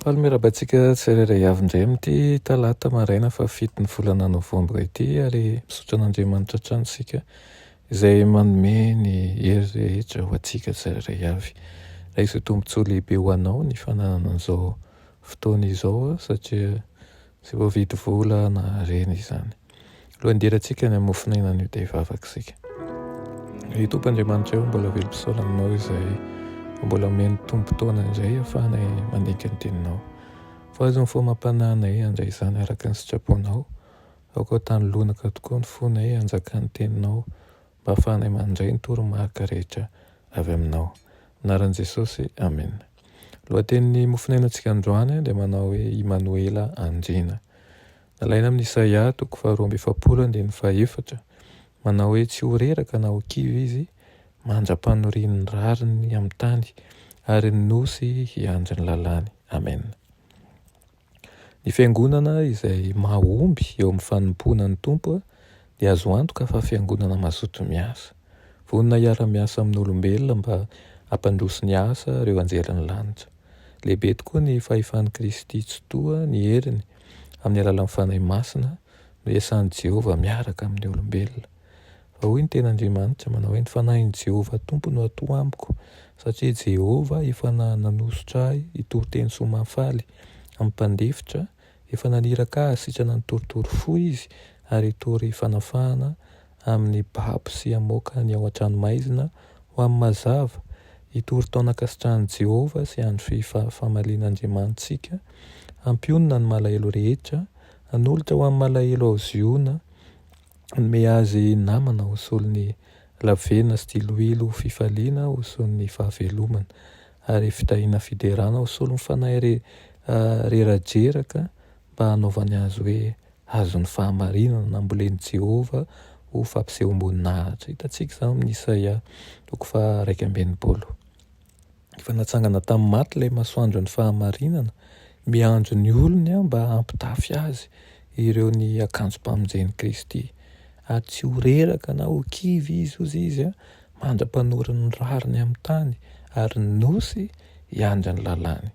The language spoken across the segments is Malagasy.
Faly miarahaba antsika tsirairay avy indray amin'ity talata maraina fahafito ny volana novambra ity ary misaotra an'Andriamanitra hatrany isika izay manome ny hery rehetra ho antsika tsirairay avy. Raiso tombontsoa lehibe ho anao ny fananana an'izao fotoana izao satria Tsy voavidy vola na harena izany. Lohandirantsika ny hamofonena an'io dia vavaka isika. Ry Tompo Andriamanitra eo, mbola velom-pisaona aminao izay mbola omeny tombon-potoana indray afahanay mandinika ny teninao. Voazo ny fomam-panahinay handray izany araka ny sitraponao. Aoka ho tany lonaka tokoa ny fonay hanjakan'ny teninao Mba fanay mandray ny toromarika rehetra avy aminao. Anaran'i Jesosy, Amena. Lohatenin'ny mofonainantsika androany dia manao hoe Imanoela Andriana. Nalaina amin'ny Isaia toko faharoa amby efapolo andininy fahefatra, manao hoe tsy ho reraka na ho kivy izy mandra-panorian'ny rariny amin'ny tany ary ny nosy hiandry ny lalàny. Amena. Ny fiangonana izay mahomby eo amin'ny fanompoana ny Tompo dia azo antoka fa fiangonana mazoto miasa. Vonona hiara-miasa amin'olombelona mba hampandroso ny asa ireo anjelin'ny lanitra. Lehibe tokoa ny fahefan'i Kristy Tsitoha ny heriny amin'ny alalan'ny Fanahy Masina no iasan'i Jehovah miaraka amin'ny olombelona. Fa hoy ny teny Andriamanitra, manao hoe, Ny fanahin'i Jehovah Tompo no atoa amiko, satria Jehovah efa nanosotra ahy hitory teny soa mahafaly amin'ny mpandefitra, efa naniraka ahy hasitrana ny torotoro fo izy, ary hitory fanafahana amin'ny babo sy hamoaka ny ao an-tranomaizina ho amin'ny mazava, hitory taonan-kasitrahan'i Jehovah sy andro famalian'Andriamanitsika, hampionona ny malahelo rehetra, hanolotra ho amin'ny malahelo ao Ziona, Hanome azy namana ho solon'ny lavena sy diloilo ho fifaliana ho solon'ny fahavelomana ary fitahiana fiderana ho solon'ny fanahy re, rerajeraka mba hanaovany azy hoe hazon'ny fahamarinana nambolen'i Jehovah ho fampisehoam-boninahitra. Hitantsika izany amin'ny Isaia toko faha iraika amby enimpolo. Efa natsangana tamin'ny maty ilay masoandron'ny fahamarinana, miandry ny olony mba hampitafy azy ireo ny akanjom-pamonjen'i Kristy, ary tsy ho reraka na ho kivy izy, hoy izy, mandra-panorin'ny rariny amin'ny tany, ary ny Nosy hiandry ny lalàny.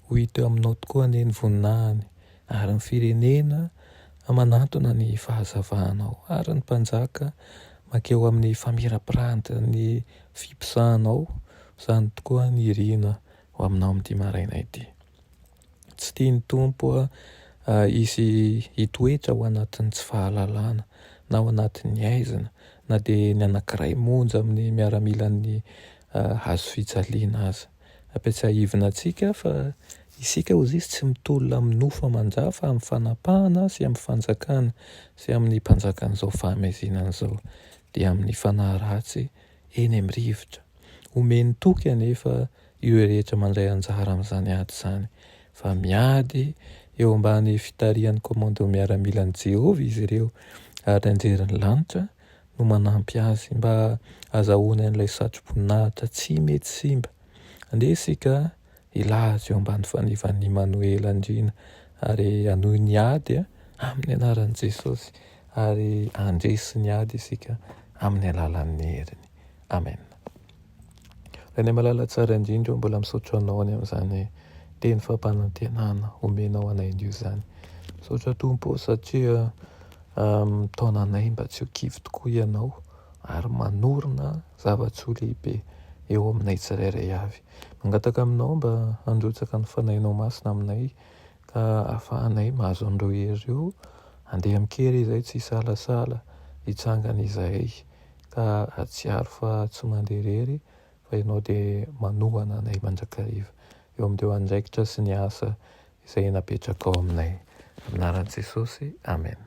Ho hita eo aminao tokoa anie ny voninahiny, Ary ny firenena manantona ny fahazavanao, ary ny mpanjaka mankeo amin'ny famirapiratin'ny fiposahanao, izany tokoa ny iriana ho aminao amin'ity maraina ity. Tsy tian'ny Tompo hisy hitoetra ao anatin'ny tsy fahalalana, na ao anatin'ny haizina, na dia ny anankiray monja amin'ny miaramilan'ny hazo fijaliana aza. Ampiatsahivina antsika fa isika hoy izy tsy mitolona amin'ny nofo aman-ja fa amin'ny fanapahana sy amin'ny fanjakana sy amin'ny mpanjakan'izao fahamezinana izao dia amin'ny fanahy ratsy eny amin'ny rivotra. Omeny toky anefa ireo rehetra mandray anjara amin'izany ady izany fa miady eo ambany fitarihan'ny Komando Miaramilan'i Jehovah izy ireo ary nianjerin'ny lanitra no manampy azy mba hazahoany an'ilay satroboninahitra tsy mety simba. Andeha isika hilaza eo ambany fanivan'i Imanoela Andriana ary hanohy ny ady amin'ny anaran'i Jesosy ary handresy ny ady isika amin'ny alalan'ny heriny. Amen. Reniamalala tsara indrindra o, mbola misaotra anao any amin'izany teny fampanantenana omenao anay anio izany. Misaotra Tompo o satria mitaona anay mba tsy ho kivy tokoa Ianao ary manorina zava-tsoa lehibe eo aminay tsirairay avy. Mangataka aminao mba handrotsaka ny Fanahinao Masina aminay ka ahafahanay mahazo an'ireo hery ireo handeha amin-kery izay tsy hisalasala hitsangana izahay, ka hahatsiaro fa tsy mandeha irery fa Ianao dia manohana anay mandrakariva eo amin'ireo andraikitra sy ny asa izay napetrakao aminay. Amin'ny anaran'i Jesosy, amena.